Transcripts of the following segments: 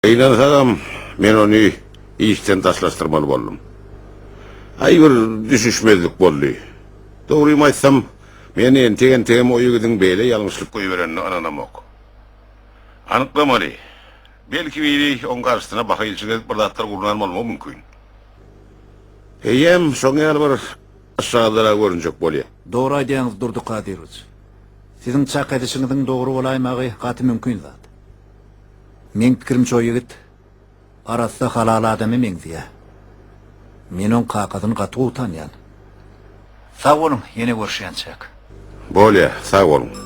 Gynansagam, men ony işden daşlaşdyrmaly boldum. Aý, bir düşüşmezlik boldy. Dogrymy aýtsam, men entek-entegem o ýigidiň beýle ýalňyşlyk goýberenine ynanamok. Anyklamaly. Belki, biri oň garşysyna baha ilçik edip bir zatlar gurnan bolmagy mümkin. Eýýäm şoň ýaly bir yşarlara görünjek bolýa. Dogry aýdýaňyz, Durdy Kadyrowiç. Siziň çak edişiňiziň dogry bolaýmagy gaty mümkin zat. Meň pikirimçe o ýigit arassa halal adama meňzeýä. Men oň kakasyny gaty gowy tanýan. Sag boluň, ýene görüşýänçäk. Bolýa, sag boluň.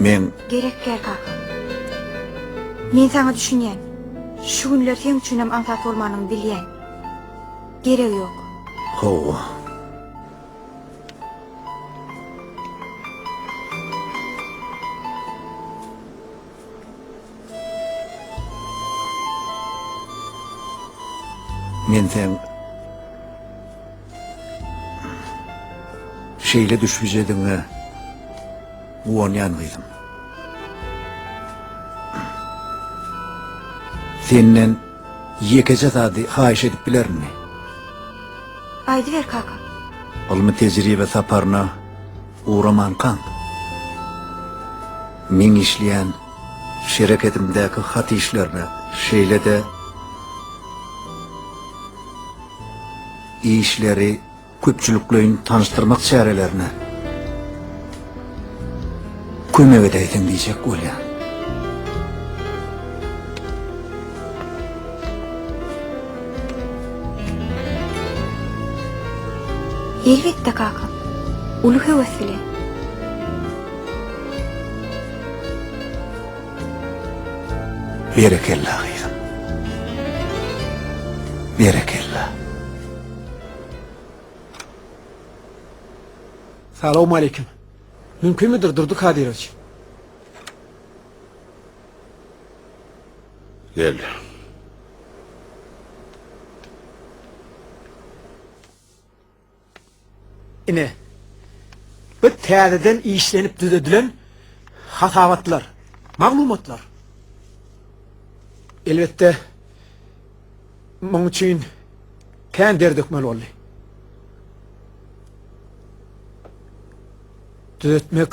Men. Gerek däl, kaka. Men saňa düşünýän. Şu günler seň üçinem aňsat bolmanyny bilýän. Geregi ýok. Hawa. Men sen şeýle düşbijedigiňe guwanýan gyzym. Senden ýekeje zady haýyş edip bilerinmi? Aýdyber kaka. Ylmy-tejribe saparyna Ugramankaň, meň işleýän şereketimdäki hat işlerine, şeýle-de işleri köpçülikleýin tanyşdyrmak çärelerine kömek edäýseň diýjek bolýan. Elbetde kaka. Uly höwes bilen. Berekella gyzym. Berekella. Salowmaleýkim. Mümkinmidir Durdy Kadyrowiç? Gel. Ine. Bu täzeden işlenip düzedilen hasabatlar, maglumatlar. Elbetde muň üçin kän der dökmeli boldy. Düzetmek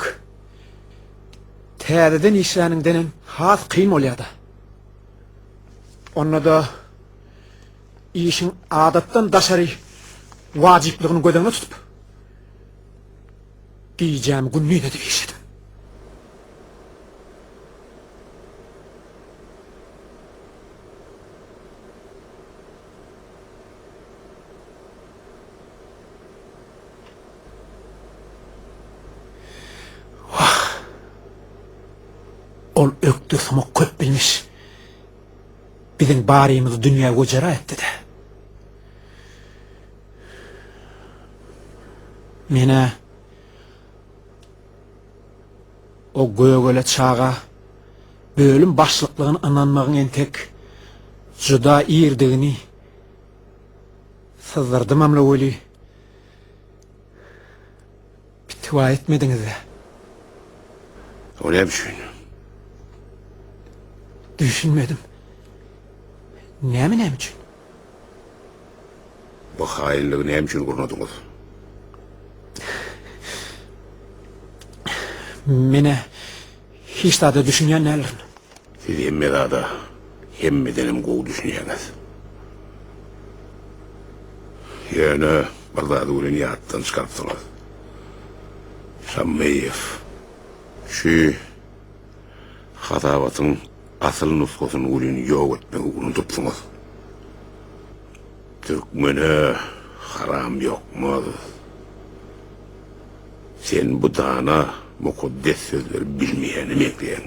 Täzeden işläniňdenem has kyn bolýar-da. Onda-da işiň adatdan daşary wajyplygyny göz öňüne tutup, gijämi gündiz edip işledim. Wah! Ol ökde sumak köp bilmiş. Biziň barymyzy dünýä göjera etdi-de. Men-ä o gögele çaga bölüm başlyklygyna ynanmagyň entek juda irdigini Syzdyrdy Mamla weli, pitwa etmediňiz-ä. O ne üçin? Düşünmedim. Näme näme üçin? Bu haýynlygy näme üçin gurnadyňyz? Menä Hiç zada düşünýän däldirin. Siz hemme zada hemmedenem gowy düşünýäňiz. Ýöne bir zady welin ýatdan çykarypsyňyz. Şammeýew şu hasabatyň asyl nusgasyny welin ýok etmegi unudypsyňyz. Türkmene haram ýokmaz. Sen bu dana, mukaddes sözleri bilmeýäne meňzeýäň.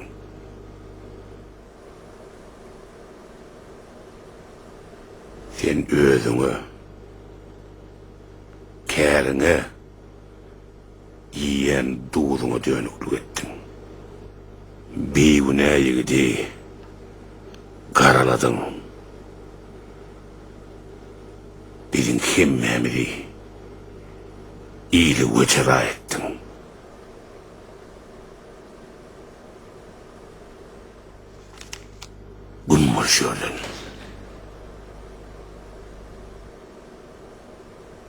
Sen özüňe, käriňe, iýýän duzuňa dönüklik etdiň. Bigünä ýigidi garaladyň. biziň hemmämizi ile wejera etdiň. Gün bolşy ýerden.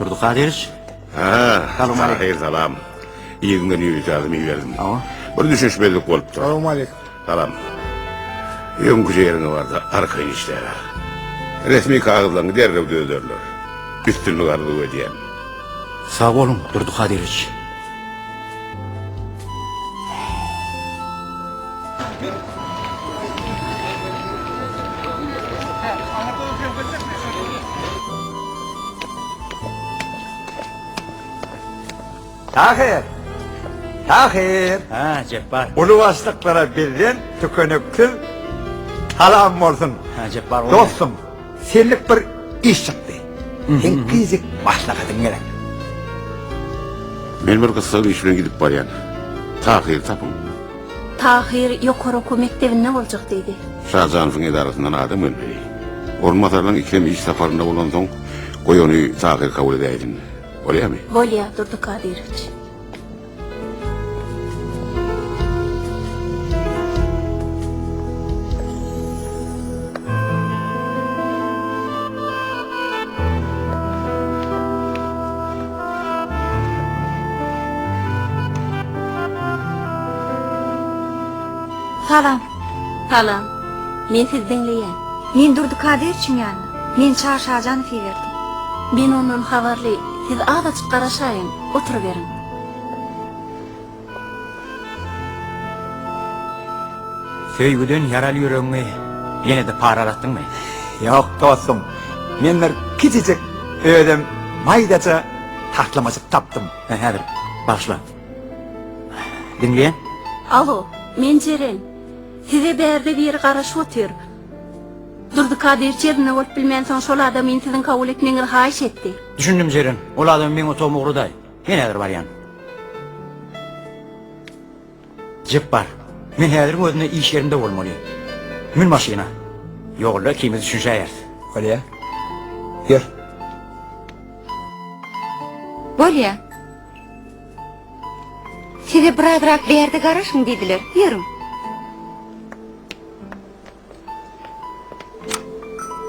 Durdy Kadyrowiç. Ha, salam aleyküm. Salam. İyi gün günü ýazym iýerdim. Awa. Bir düşünişmezlik bolupdy. Salam aleyküm. Salam. Öňki ýeriňe barda arkaýyn işläge. Resmi kagyzlaryňy derrew düzederler. Üstünlik arzuw edýän. Sag boluň, Durdy Kadyrowiç. Tahyr! Tahyr! Ha, Jepbar. Uly başlyklara bizden tükeniksiz salam bolsun. Ha, Jepbar. Dostum. Senlik bir iş çykdy. Seň fizik maslahatyň gerek. Men bir gyssag iş bilen gidip barýan. Tahyry tapyň. Tahyr ýokary okuw mekdebinde boljak diýdi. Şajanowyň edarasyndan adam gelmeli. Orunbasarlaň ikem iş saparynda bolansoň, goý ony Tahyr kabul edäýsin. Bolýamy? Bolýar, Durdy Kadyrowiç. Salam. Salam. Men sizi diňleýän. Men Durdy Kadyrowyçyň ýanyna. Men Çary Şajanowy iberdim. Men ondan habarly. Siz azajyk garaşaýyň. Oturyberiň. Söýgüden ýaraly ýüregiňi ýene-de paralatdyňmy? Ýok, dostum. Men bir kiçijik, özem maýdaja taslamajyk tapdym. Häzir, bagyşla. Diňleýän. Alo, men Jeren. Size bärde biri garaşyp otyr. Durdy Kadyýewiç ýerinde bolup bilmänsoň, şol adamyn siziň kabul etmegiňizi haýyş etdi. Düşündim, Jeren. Ol adamy meň otagyma ugraday. Men häzir barýan. Jepbar, men häziriň özünde iş ýerimde bolmaly. Mün maşyna. Ýolda ikimiz düşünşäýeris. Bolýa. Ýör. Bolýa. Size birazrak bärde garaşyň diýdiler. Ýörüň.